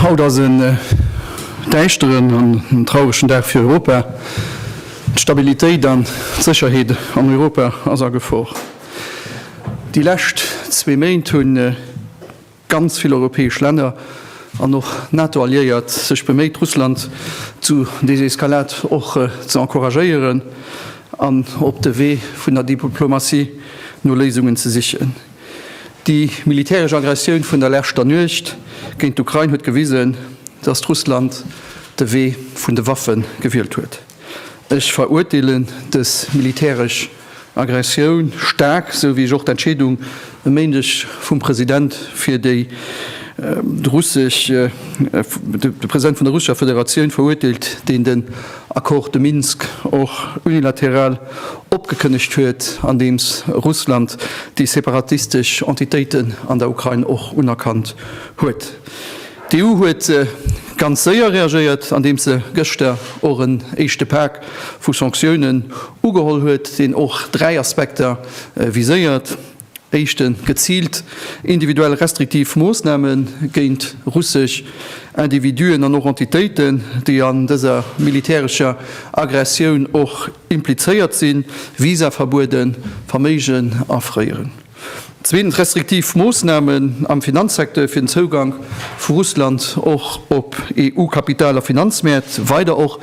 Haut ass en äh, däischteren an en trauregen Dag fir Europa. D'Stabilitéit an d'Sécherheet an Europa ass a Gefor. Déi lescht zwee Méint hunn äh, Ganz vill europäesch Länner an och NATO-Alliéiert sech beméit, Russland zu Deseskalad och ze encouragéieren an op de Wee vun der Diplomatie no Léisungen ze sichen. Déi militäresch Aggressioun vun der leschter Nuecht géint d'Ukrain huet gewisen, datt Russland de Wee vun de Waffe gewielt huet. Ech verurteelen dës militäresch Aggressioun staark, sou wéi ech och d'Entscheedung e Méindeg vum President fir déi russesch, de President vun der russescher Federatioun verurteelt, deen den Accord de Minsk och unilateral opgekënnegt huet, andeems Russland déi separatistesch Entitéiten an der Ukrain och unerkannt huet. D'EU huet ganz séier reagéiert, andeems se gëschter och en éischte Pak vu Sanktiounen ugeholl huet, deen och dräi Aspekter viséiert, Éischte geziilt individuell restriktiv Moossname géint russesch Individuen an och Entitéiten, déi an dëser militärescher Aggressioun och implizéiert sinn, Visaverbueden, Verméigen afréieren. Zweetens, restriktiv Moossnamen am Finanzsecteur fir den Zougank vu Russland och op EU-Kapital a Finanzmäert weider och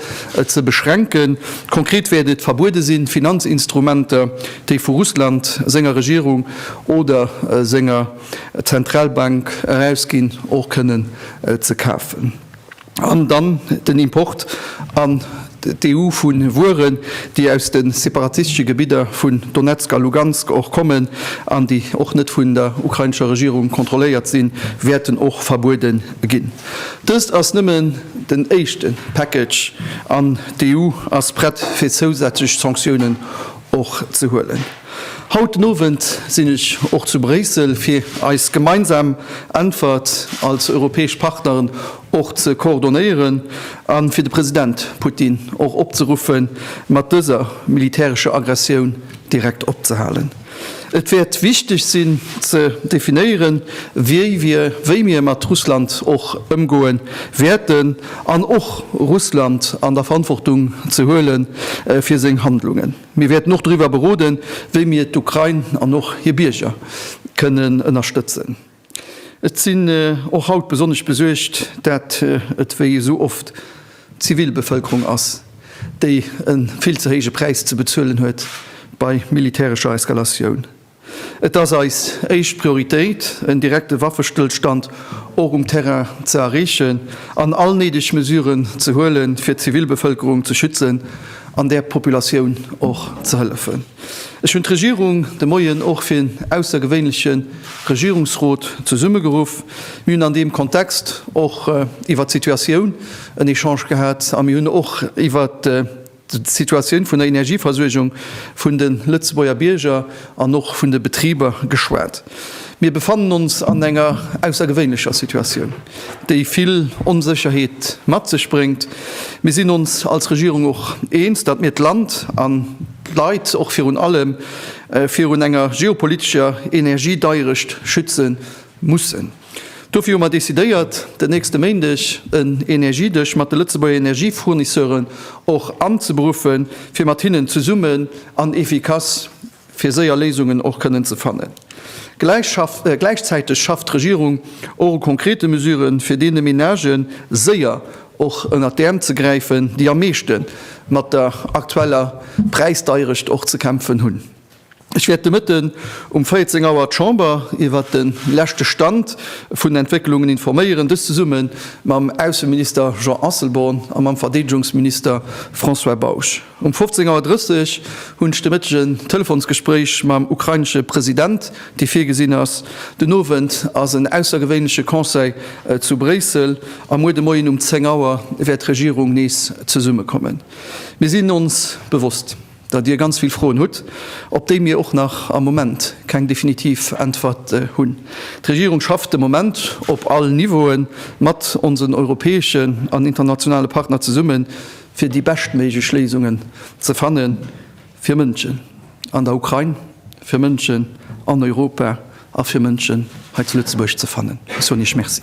ze beschränken. Konkret wäert et verbuede sinn, Finanzinstrumenter, déi vu Russland senger Regierung oder senger Zentralbank erausginn, och kënnen ze kafen. An dann den Import an d'EU vu Wueren, déi aus de separatistesche Gebidder vun Donezk a Lugansk och kommen an déi och net vun der ukrainescher Regierung kontrolléiert sinn, wäerten och verbuede ginn. Dëst ass nëmmen den éischte Package an d'EU ass prett fir zousätzlech Sanktiounen och ze huelen. Haut den Owend sinn ech och zu Bréissel, fir eis gemeinsam Äntwert als europäesch Partneren och ze koordonéieren a fir de President Putin och opzeruffen, mat dëser militärescher Aggressioun direkt opzehalen. Et wäert wichteg sinn, ze definéieren, wéi mir mat Russland och ëmgoe wäerten, an och Russland an der Verantwortung ze huelen, fir seng Handlungen. Mir wäerten och driwwer beroden, wéi mir d'Ukrain an och hir Bierger kënnen ënnerstëtzen. Ech sinn och haut besonnesch besuergt, dat et wéi esou oft d'Zivilbevëlkerung ass, déi e vill ze héije Präis ze bezuelen huet bei militärescher Eskalatioun. Et ass eis éischt Prioritéit, en direkte Waffestëllstand och um Terrain ze erreechen an all néideg Mesuren ze huelen, fir d'Zivilbevëlkerung ze schützen an där Populatioun och ze hëllefen. Ech hunn d'Regierung de Moien och fir en aussergewéinleche Regierungsrot zesummegeruff. Mir hunn an deem Kontext och iwwert d'Situatioun en Echange gehat a mir hunn och iwwert d'Situatioun vun der Energieversuergung vun de Lëtzebuerger Bierger an och vun de Betriber geschwat. Mir befannen ons an enger aussergewéinlecher Situatioun, déi vill Onsécherheet mat sech bréngt. Mir sinn ons als Regierung och eens, datt mir d'Land an d'Leit och virun allem virun enger geopolitescher Energiedeierecht schütze mussen. Dofir hu mer decidéiert, den nächste Méindeg en Energiedësch mat de Lëtzebuerger Energiefournisseuren och anzeberuffen, fir mat hinnen zesummen an efficace fir séier Léisungen och kënnen ze fannen. Gläichzäiteg schafft d'Regierung och u konkrete Mesuren, fir deene Menagë séier och ënnert d'Äerm ze gräifen, déi am meeschte mat der aktueller Präisdeierecht och ze kämpfen hunn. Ech wäert de Mëtten um 14 Auer d'Chamber iwwert de leschte Stand vun den Entwécklungen informéieren, dëst zesumme mam Ausseminister Jean Asselborn a mam Verdeedegungsminister François Bausch. Um 15 Auer 30 hunn ech de Mëtteg en Telefonsgespréich mam ukrainesche President, dee virgesinn ass. Den Owend ass en aussergewéinleche Conseil zu Bréissel a muer de Moien um 10 Auer wäert d'Regierung nees zesummekommen. Mir sinn ons bewosst. datt Dir ganz vill Froen hutt, op déi mir och nach am Moment keng definitiv Äntwert hunn. D'Regierung schafft de Moment op all Niveaue mat onsen europäeschen an internationale Partner zesummen, fir déi beschtméiglech Léisungen ze fanne fir Mënschen an der Ukrain, fir Mënschen an Europa a fir Mënschen hei zu Lëtzebuerg ze fannen. Ech soen Iech Merci.